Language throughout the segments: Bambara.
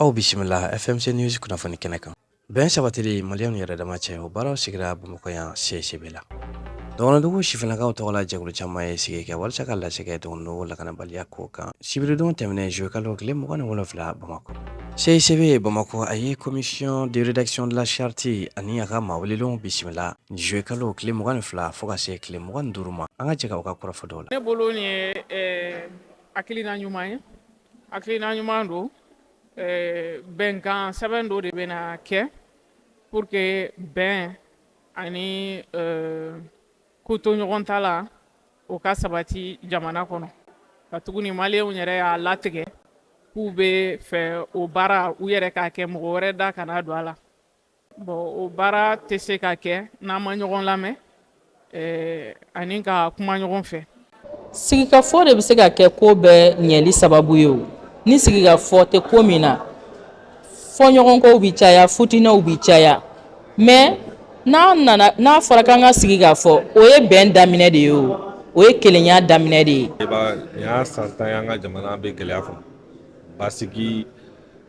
aw bisimila fmc news kunnafoni kɛnɛ kan bɛn sabatili maliyɛnw yɛrɛ dama cɛ o baaraw sigira bamakɔ yan cicb la dɔgɔnɔdugu sifinnakaw tɔgɔ la jɛkulu caman ye sigi kɛ walasa ka lase kɛ dɔgɔnɔdugu lakanabaliya ko kan sibiridon tɛmɛnen juillet kalo tile mugan ni wolonwula bamakɔ cicb bamakɔ a ye commission de rédaction de la charte ani a ka maa welelenw bisimila juillet kalo tile mugan ni fila fo ka se tile mugan ni duuru ma an ka jɛ ka u ka kɔrɔfɔ dɔw la ne bolo nin ye hakilina ɲuman ye Hakilina ɲuman don bɛnkan sɛbɛn dɔ de bɛ na kɛ pour que bɛn ani kotoɲɔgɔntala o ka sabati jamana kɔnɔ katuguni maliyɛnw yɛrɛ y'a latigɛ k'u bɛ fɛ o baara u yɛrɛ k'a kɛ mɔgɔ wɛrɛ da kana don a la Bon o baara tɛ se ka kɛ n'an ma ɲɔgɔn lamɛn ani ka kuma ɲɔgɔn fɛ sigikafɔ de bɛ se ka kɛ ko bɛɛ ɲɛli sababu ye o ni sigikafɔ tɛ ko min na fɔɲɔgɔnkɔw bɛ caya fitinɛw bɛ caya mais n'a nana n'a fɔra ka an ka sigi ka fɔ o ye bɛn daminɛ de ye o o ye kelenya daminɛ de ye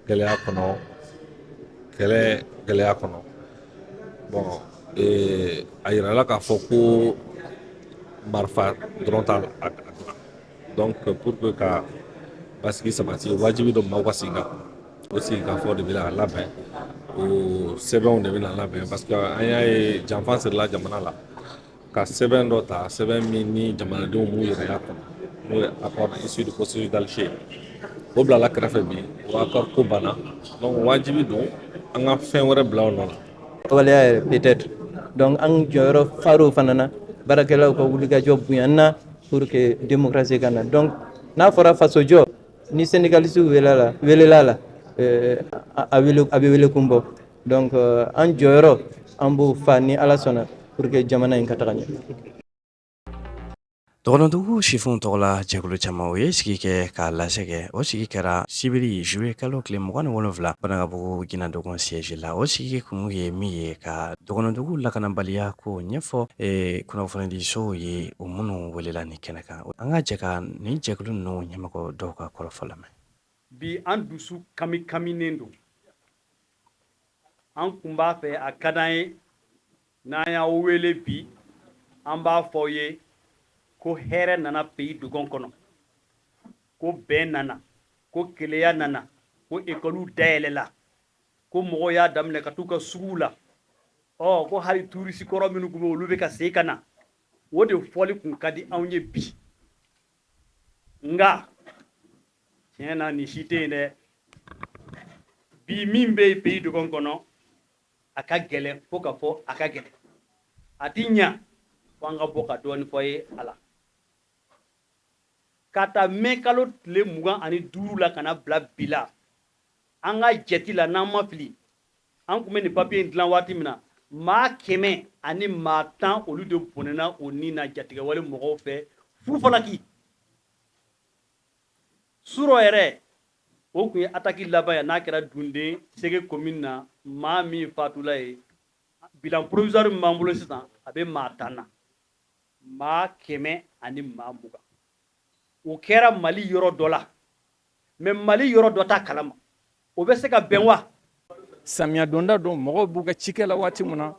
gɛlɛya kɔnɔ kɛlɛ gɛlɛya kɔnɔ bon ee, a yirala k'a fɔ ko marifa dɔrɔn t'a dilan donc pour que ka basigi sabati wajibi don maaw ka sigi ka o sigikafɔ de bɛ na labɛn o sɛbɛnw de bɛ na labɛn parce que an y'a ye janfa sirila jamana la ka sɛbɛn dɔ ta sɛbɛn min ni jamanadenw m'u yɛrɛ y'a kɔnɔ n'o ye accord issu du processus d'Alger o bilala kɛrɛfɛ bi o accord ko banna donc wajibi don an ka fɛn wɛrɛ bila o nɔ la waleya yɛrɛ peut-être donc an jɔyɔrɔ far'o fana na baarakɛlaw ka wulikajɔ bonyana pour que démocratie ka na donc n'a fɔra fasojɔ ni syndicaliste welela la welela la euh, a bɛ wele kun bɔ Donc euh, an jɔyɔrɔ an b'o fa ni Ala sɔnna pour que jamana in ka taga ɲɛ. Dɔgɔnɔdugu sifinw tɔgɔla jɛkulu caman u ye sigi kɛ ka lase kɛ o sigi kɛra sibiri juillet kalo tile mugan ni wolonwula Banankabugu Ginna Dogon siège la o sigi kun ye min ye ka dɔgɔnɔdugu lakanabaliya ko ɲɛfɔ e, kunnafonidisow ye o minnu welela nin kɛnɛ kan an ka jɛ ka nin jɛkulu ninnu ɲɛmɔgɔ dɔw ka kɔrɔfɔ lamɛn bi an dusu kami kaminen don an kun b'a fɛ a ka d'an ye n'an y'aw wele bi an b'a fɔ aw ye ko hɛrɛ nana pays dogon kɔnɔ ko bɛn nana ko kelenya nana ko ekɔliw dayɛlɛla ko mɔgɔw y'a daminɛ ka t'u ka suguw la ɔ ko hali turisi kɔrɔ minnu kun bɛ olu bɛ ka segin ka na o de fɔli kun ka di anw ye bi nka tiɲɛ na nin si tɛ yen dɛ bi min bɛ pays dogon kɔnɔ a ka gɛlɛn fo ka fɔ a ka gɛlɛn a ti ɲa fo an ka bɔ ka dɔɔni fɔ ye a la k'a ta mɛ kalo tile mugan ani duuru la ka na bila bi la an ka jate la n'an ma fili an kun bɛ nin papiye in dilan waati min na maa kɛmɛ ani maa tan olu de bɔnɛna o ni na jatigɛwale mɔgɔw fɛ fufalaki surɔ yɛrɛ o kun ye ataki laban ye n'a kɛra dunde sege commune na maa min fatula ye bilan provisoire min b'an bolo sisan a bɛ maa tan na maa kɛmɛ ani maa mugan o kɛra mali yɔrɔ dɔ la Mais mali yɔrɔ dɔ t'a kalama o bɛ se ka bɛn wa samiya donda don mɔgɔw b'u ka cikɛ la waati min na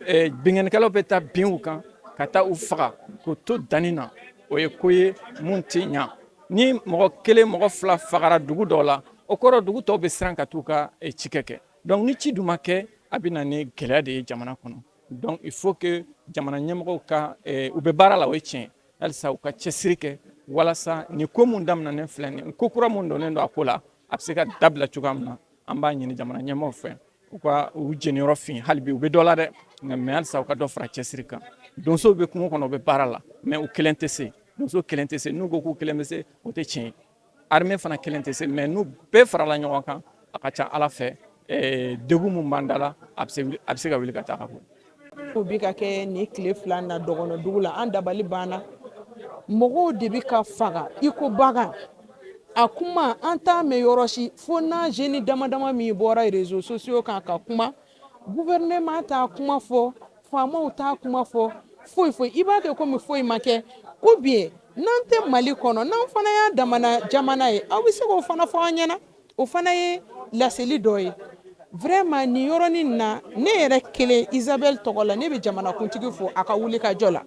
eh, binkannikɛlaw bɛ taa bin u kan ka taa u faga k'u to danni na o ye ko ye mun tɛ ɲa ni mɔgɔ kelen mɔgɔ fila fagara dugu dɔw la o kɔrɔ dugu tɔw bɛ siran ka t'u ka eh, cikɛ kɛ donc ni ci dun ma kɛ a bɛ na ni gɛlɛya de ye jamana kɔnɔ donc il faut que jamana ɲɛmɔgɔw ka eh, u bɛ baara la o ye tiɲɛ halisa u ka cɛsiri kɛ walasa nin ko min daminɛnen filɛ nin ko kura min donnen don a ko la a bɛ se ka dabila cogoya min na an b'a ɲini jamana ɲɛmɔgɔw fɛ u ka u jeniyɔrɔ fin hali bi u bɛ dɔ la dɛ mais halisa u ka dɔ fara cɛsiri kan donsow bɛ kungo kɔnɔ u bɛ baara la mais u kelen tɛ se donso kelen tɛ se n'u ko k'u kelen bɛ se o tɛ tiɲɛ ye Armée fana kelen tɛ se mais n'u bɛɛ farala ɲɔgɔn kan a ka ca ala fɛ degun min b'an da la a bɛ se ka wuli ka taa ka bɔ ko bi ka kɛ nin tile fila na dɔgɔnɔdugu la an dabali banna mɔgɔw de bɛ ka faga iko bagan a kuma an t'a mɛn yɔrɔ si fo n'an jeune damadama min bɔra réseaux sociaux kan ka kuma gouvernement t'a kuma fɔ faamaw t'a kuma fɔ foyi foyi i b'a kɛ komi foyi ma kɛ ou bien n'an tɛ mali kɔnɔ n'an fana y'a damana jamana ye aw bɛ se k'o fana fɔ an ɲɛna o fana ye laseli dɔ ye vraiment nin yɔrɔnin na ne yɛrɛ kelen isabelle tɔgɔ la ne bɛ jamanakuntigi fo a ka wulikajɔ la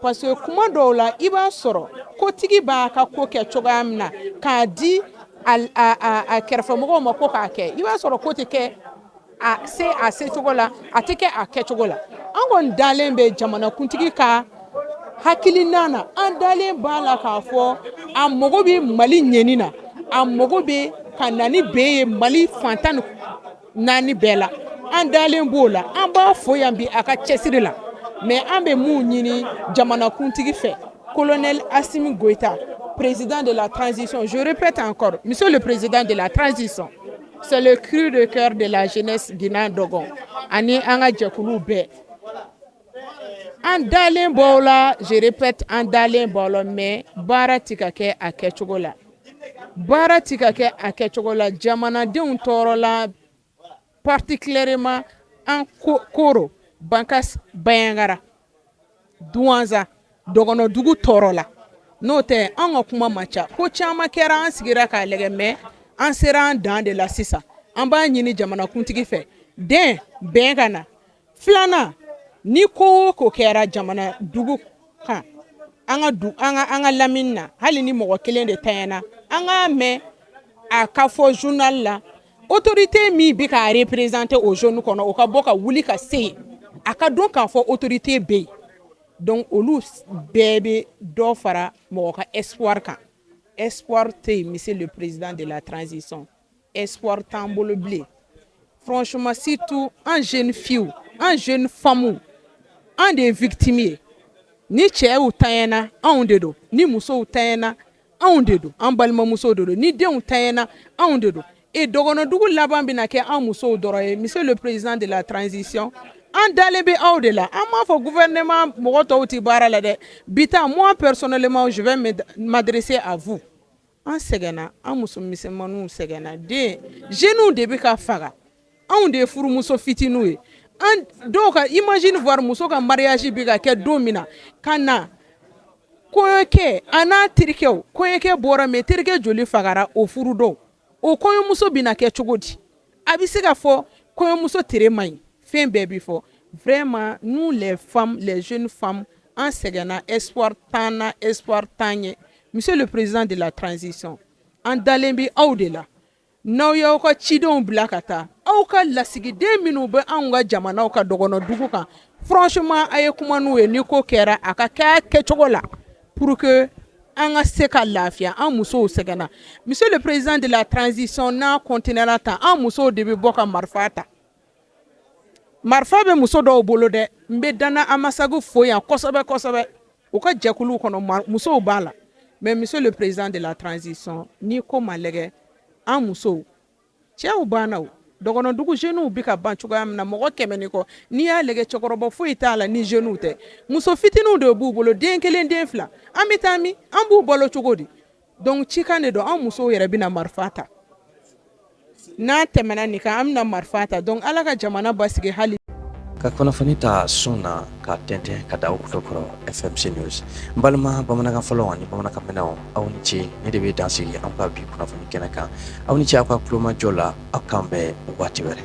Parce que kuma dɔw la i b'a sɔrɔ kotigi b'a ka ko kɛ cogoya min na k'a di a kɛrɛfɛmɔgɔw ma ko k'a kɛ i b'a sɔrɔ ko tɛ kɛ a secogo la a tɛ kɛ a kɛcogo la an kɔni dalen bɛ jamanakuntigi ka hakilina na an dalen b'a la k'a fɔ a mago bɛ mali ɲɛni na a mago bɛ ka na ni bɛn ye mali fan tan naani bɛɛ la an dalen b'o la an b'a fɔ yan bi a ka cɛsiri la mɛ an bɛ minnu ɲini jamanakuntigi fɛ kolonɛ asimi goyita prezd de la tranzsi zourep tan kɔrɔ mi de prezd de la tranzsi sɔn seli ki de kɛra de la zinadɔn ani an ka jɛkuluw bɛɛ An dalen b'o la je répète an dalen b'o la mais baara tɛ ka kɛ a kɛcogo la baara tɛ ka kɛ a kɛcogo la jamanadenw tɔɔrɔ la particulièrement an koro bankas bayangara douanza dɔgɔnɔdugu tɔɔrɔ la n'o tɛ an ka kuma man ca ko caman kɛra an sigira k'a lajɛ mais an sera an dan de la sisan an b'a ɲini jamanakuntigi fɛ dɛ bɛn ka na filanan ni ko o ko kɛra jamana dugu kan an ka du an ka an ka lamini na hali ni mɔgɔ kelen de tanyana an k'a mɛn a ka fɔ journal la autorité min bɛ k'a représenter o zone kɔnɔ o ka bɔ ka wuli ka se yen a ka dɔn k'a fɔ autorité bɛ yen donc olu bɛɛ bɛ dɔ fara mɔgɔ ka espoir kan espoir tɛ yen monsieur le président de la transition espoir t'an bolo bilen franchement surtout an jeunes filles an jeunes femmes an de ye victime ye ni cɛw tanyana anw de don ni musow tanyana anw de don an balimamusow de don ni denw tanyana anw de don et dɔgɔnɔdugu laban bɛna kɛ an musow dɔrɔn ye monsieur le président de la transition an dalen bɛ aw de la an m'a fɔ gouvernement mɔgɔ tɔw tɛ baara la dɛ bi ta moi personnellement je vais m'adresser à vous an sɛgɛnna an muso misɛnmanw sɛgɛnna den jeunes de bɛ ka faga anw de ye furumuso fitininw ye dɔw ka imagine voir muso ka mariage bi ka kɛ don min na ka na kɔɲɔkɛ a n'a terikɛ kɔɲɔkɛ bɔra mais terikɛ joli fagara o furu don o kɔɲɔmuso bɛna kɛ cogo di A bɛ se ka fɔ kɔɲɔmuso tere man ɲi fɛn bɛɛ bɛ fɔ vraiment nous les femmes les jeunes femmes an sɛgɛnna espoir t'an na espoir t'an ye monsieur le président de la transition an dalen bɛ aw de la n'aw y'aw ka cidenw bila ka taa aw ka lasigiden minnu bɛ anw ka jamana ka dɔgɔnɔdugu kan franchement a ye kuma n'u ye ni ko kɛra a ka kɛ a kɛcogo la pour que an ka se ka lafiya an musow sɛgɛnna monsieur le président de la transition n'a continuela tan an musow de bɛ bɔ ka marifa ta marifa bɛ muso dɔw bolo dɛ n bɛ dana amasagu fo yan kosɛbɛ kosɛbɛ u ka jɛkulu kɔnɔ musow b'a la mais monsieur le président de la transition ni ko ma lajɛ an musow cɛw banna dɔgɔnɔdugu jeunes bɛ ka ban cogoya min na mɔgɔ kɛmɛ ni kɔ n'i y'a lajɛ cɛkɔrɔba foyi t'a la ni jeunes tɛ muso fitininw de b'u bolo den kelen den fila an bɛ taa min an b'u balo cogo di donc cikan de don an musow yɛrɛ bɛna marifa ta n'a tɛmɛna nin kan an bɛna marifa ta donc ala ka jamana basigi hali ka kunnafoni ta sun na ka tɛntɛn ka da aw tulo kɔrɔ fmc news n balima bamanankan fɔlaw ani bamanankan mɛnnaw aw ni ce nin de bɛ dan sigi an ka bi kunnafoni kɛnɛ kan aw ni ce aw ka tulomajɔ la aw k'an bɛn waati wɛrɛ